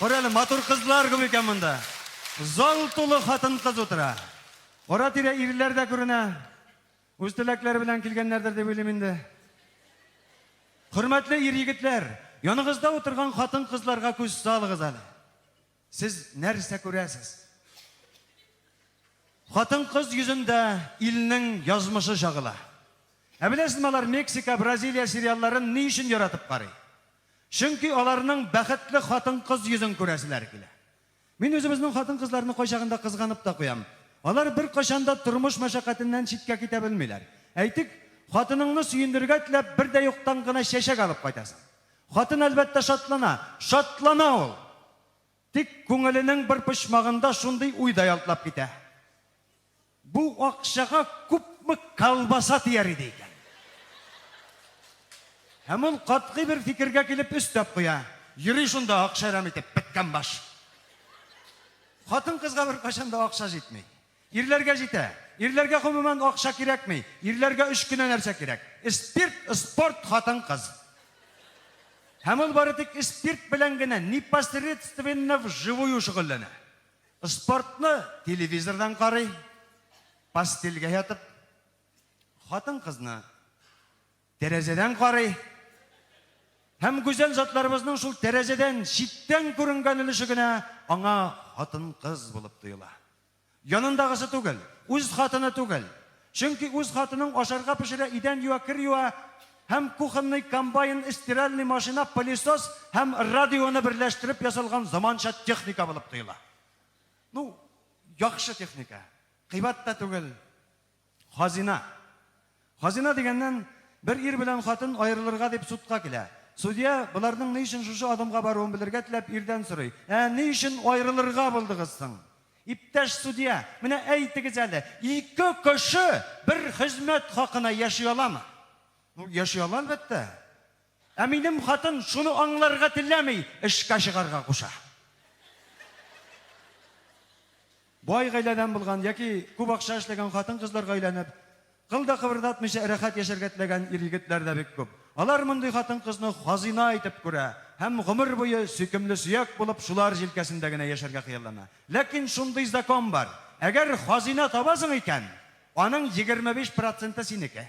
Кара әле, матур кызлар күп икән монда. Зал тулы хатын-кыз утыра. Ара-тирә ирләр дә күренә. Үз теләкләре белән килгәннәрдер дип уйлыйм инде. Хөрмәтле ир-егетләр, яныгызда утырган хатын-кызларга күз салыгыз әле. Сез нәрсә күрәсез? Хатын-кыз йөзендә илнең язмышы чагыла. Ә беләсезме, алар Мексика, Бразилия сериалларын ни өчен яратып карый? Чөнки аларның бәхетле хатын-кыз йөзен күрәселәр килә. Мин үзебезнең хатын-кызларны кайчагында кызганып та куям. Алар бер кайчанда тормыш мәшәкатеннән читкә китә белмиләр. Әйтик, хатыныңны сөендергә теләп, бер дә юктан гына чәчәк алып кайтасың. Хатын, әлбәттә, шатлана. Шатлана ул! Тик күңеленең бер почмагында шундый уй да ялтлап китә. Бу акчага күпме колбаса тияр иде икән? Һәм ул катгый бер фикергә килеп өстәп куя. Йөри шунда акча әрәм итеп, петкән баш! Хатын-кызга беркайчан да акча җитми. Ирләргә җитә. Ирләргә гомумән акча кирәкми. Ирләргә өч кенә нәрсә кирәк. Спирт, спорт, хатын-кыз. Һәм ул бары тик спирт белән генә непосредственно вживую шөгыльләнә. Спортны телевизордан карый, постельгә ятып. Хатын-кызны. Тәрәзәдән карый һәм гүзәл затларыбызның шул тәрәзәдән читтән күренгән өлеше генә аңа хатын-кыз булып тоела. Янындагысы түгел, үз хатыны түгел. Чөнки үз хатының ашарга пешерә, идән юа, кер юа һәм кухонный комбайн, стиральный машина, пылесос һәм радионы берләштереп ясалган заманча техника булып тоела. Ну, яхшы техника. Кыйбат та түгел. Хазина. Хазина дигәннән, бер ир белән хатын аерылырга дип судка килә. Судья, боларның ни өчен шушы адымга баруын белергә теләп, ирдән сорый, Ә ни өчен аерылырга булдыгыз соң? Иптәш судья, менә әйтегез әле, ике кеше бер хезмәт хакына яши аламы? Ну, яши ала, әлбәттә. Ә минем хатын шуны аңларга теләми, эшкә чыгарга куша. Бай гаиләдән булган яки күп акча эшләгән хатын-кызларга өйләнеп, кыл да кыбырдатмыйча рәхәт яшәргә теләгән ир-егетләр дә бик күп. Алар мондый хатын-кызны хазина итеп күрә һәм гомер буе сөйкемле сөяк булып шулар җилкәсендә генә яшәргә хыяллана. Ләкин шундый закон бар, әгәр хазина табасың икән, аның егерме биш проценты синеке.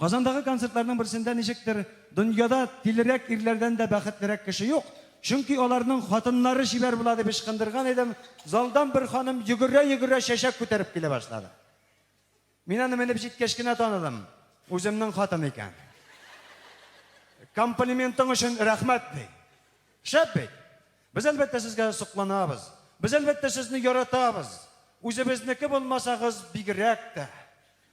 Казандагы концертларның берсендә ничектер, дөньяда тилерәк ирләрдән дә бәхетлерәк кеше юк, чөнки аларның хатыннары чибәр була дип ычкындырган идем, залдан бер ханым йөгерә-йөгерә чәчәк күтәреп килә башлады. Мин аны менеп җиткәч кенә таныдым, үземнең хатын икән. Комплиментың өчен рәхмәт, ди. Шәп бит. Без әлбәттә сезгә сокланабыз. Без әлбәттә сезне яратабыз. Үзебезнеке булмасагыз бигрәк тә.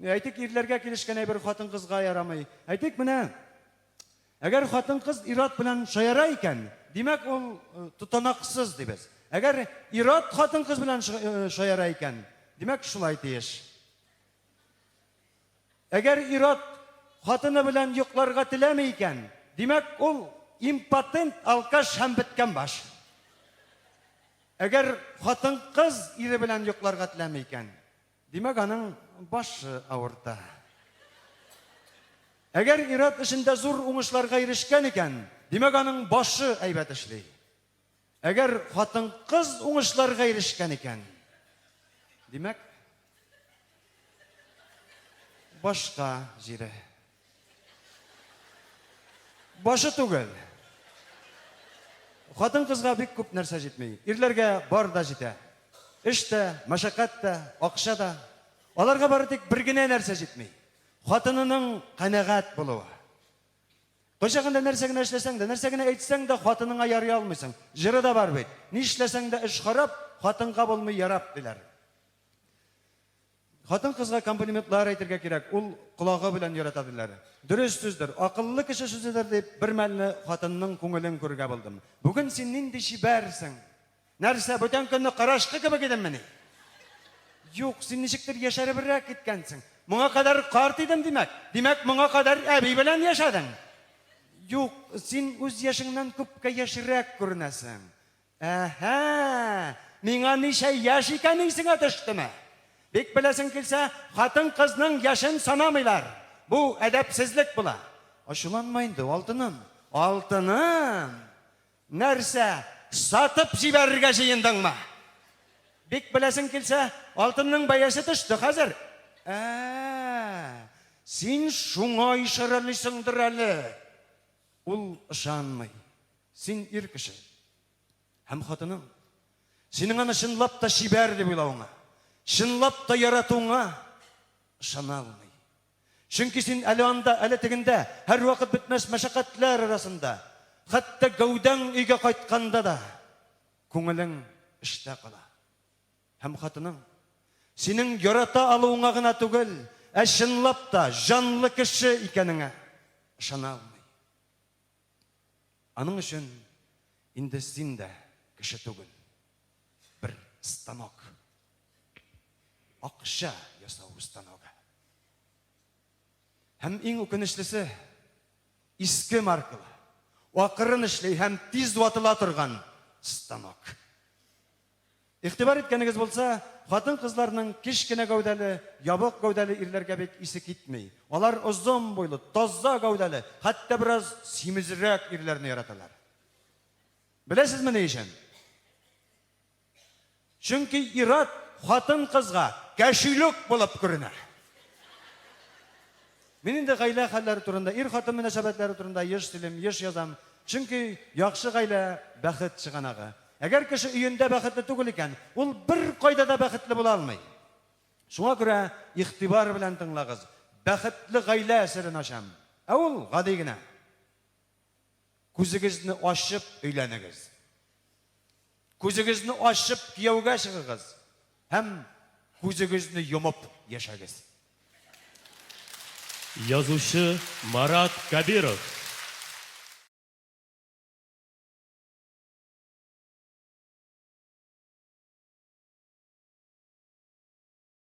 Әйтик, ирләргә килешкән әйбер хатын-кызга ярамый. Әйтик, менә әгәр хатын-кыз ир-ат белән шаяра икән, димәк, ул э, тотанаксыз дибез. Әгәр ир-ат хатын-кыз белән э, шаяра икән, димәк, шулай тиеш. Әгәр ир-ат хатыны белән йокларга теләми икән, димәк, ул импотент, алкаш һәм беткән баш. Әгәр хатын-кыз ире белән йокларга теләми икән, Димәк, аның башы авырта. Әгәр ир-ат эшендә зур уңышларга ирешкән икән, димәк, аның башы әйбәт эшли. Әгәр хатын-кыз уңышларга ирешкән икән, димәк, башка җире Башы түгел. Хатын кызга бик күп нәрсә җитми. Ирләргә бар да җитә. Эш тә, мәшәкать тә, акча да. Аларга бары тик бер генә нәрсә җитми. Хатынының канәгать булуы. Кочагында нәрсә генә эшләсәң дә, нәрсә генә әйтсәң дә, хатыныңа ярый алмыйсың. Җыры да бар бит. Нишләсәң дә эш харап, хатынга булмый ярап, диләр. Хатын-кызга комплиментлар әйтергә кирәк, ул колагы белән ярата диләр. Дөрес сүздер, акыллы кеше сүзедер дип, бермәлне хатынның күңелен күрергә булдым. Бүген син нинди чибәрсең! Нәрсә, бүтән көнне карачкы кебек идеммени? Юк, син ничектер яшәребрәк киткәнсең. Моңа кадәр карт идем, димәк? Димәк, моңа кадәр әби белән яшәдең? Юк, син үз яшеңнән күпкә яшьрәк күренәсең. Әһә! Миңа ничә яшь икән исеңә төштеме? Бик беләсең килсә, хатын-кызның яшен санамыйлар. Бу әдәпсезлек була. Ачуланма инде, алтыным. Алтыным! Нәрсә, сатып җибәрергә җыендыңмы? Бик беләсең килсә, алтынның бәясе төште хәзер. Ә, син шуңа ишарәлисеңдер әле. Ул ышанмый. Син ир кеше. Һәм хатының. Синең аны чынлап та чибәр дип уйлавыңа, чынлап та яратуыңа ышана алмый. Чөнки син әле анда, әле тегендә, һәрвакыт бетмәс мәшәкатьләр арасында, хәтта гәүдәң өйгә кайтканда да күңелең эштә кала. Һәм хатының синең ярата алуыңа гына түгел, ә чынлап та җанлы кеше икәнеңә ышана алмый. Аның өчен инде син дә кеше түгел. Бер станок. Акча ясау станогы. Һәм иң үкенечлесе, иске маркалы, акырын эшли һәм тиз ватыла торган станок. Игътибар иткәнегез булса, хатын-кызларның кечкенә гәүдәле, ябык гәүдәле ирләргә бит исе китми. Алар озын буйлы, таза гәүдәле, хәтта бераз симезрәк ирләрне яраталар. Беләсезме ни өчен? Чөнки ир-ат хатын-кызга кәшүлек булып күренә. Мин инде гаилә хәлләре турында, ир-хатын мөнәсәбәтләре турында еш сөйлим, еш язам, чөнки яхшы гаилә, бәхет чыганагы. Әгәр кеше өендә бәхетле түгел икән, ул беркайда да бәхетле була алмый. Шуңа күрә игътибар белән тыңлагыз, бәхетле гаилә серен ачам. Ә ул гади генә. Күзегезне ачып өйләнегез. Күзегезне ачып кияүгә чыгыгыз һәм күзегезне йомып яшәгез. Язучы Марат Кабиров.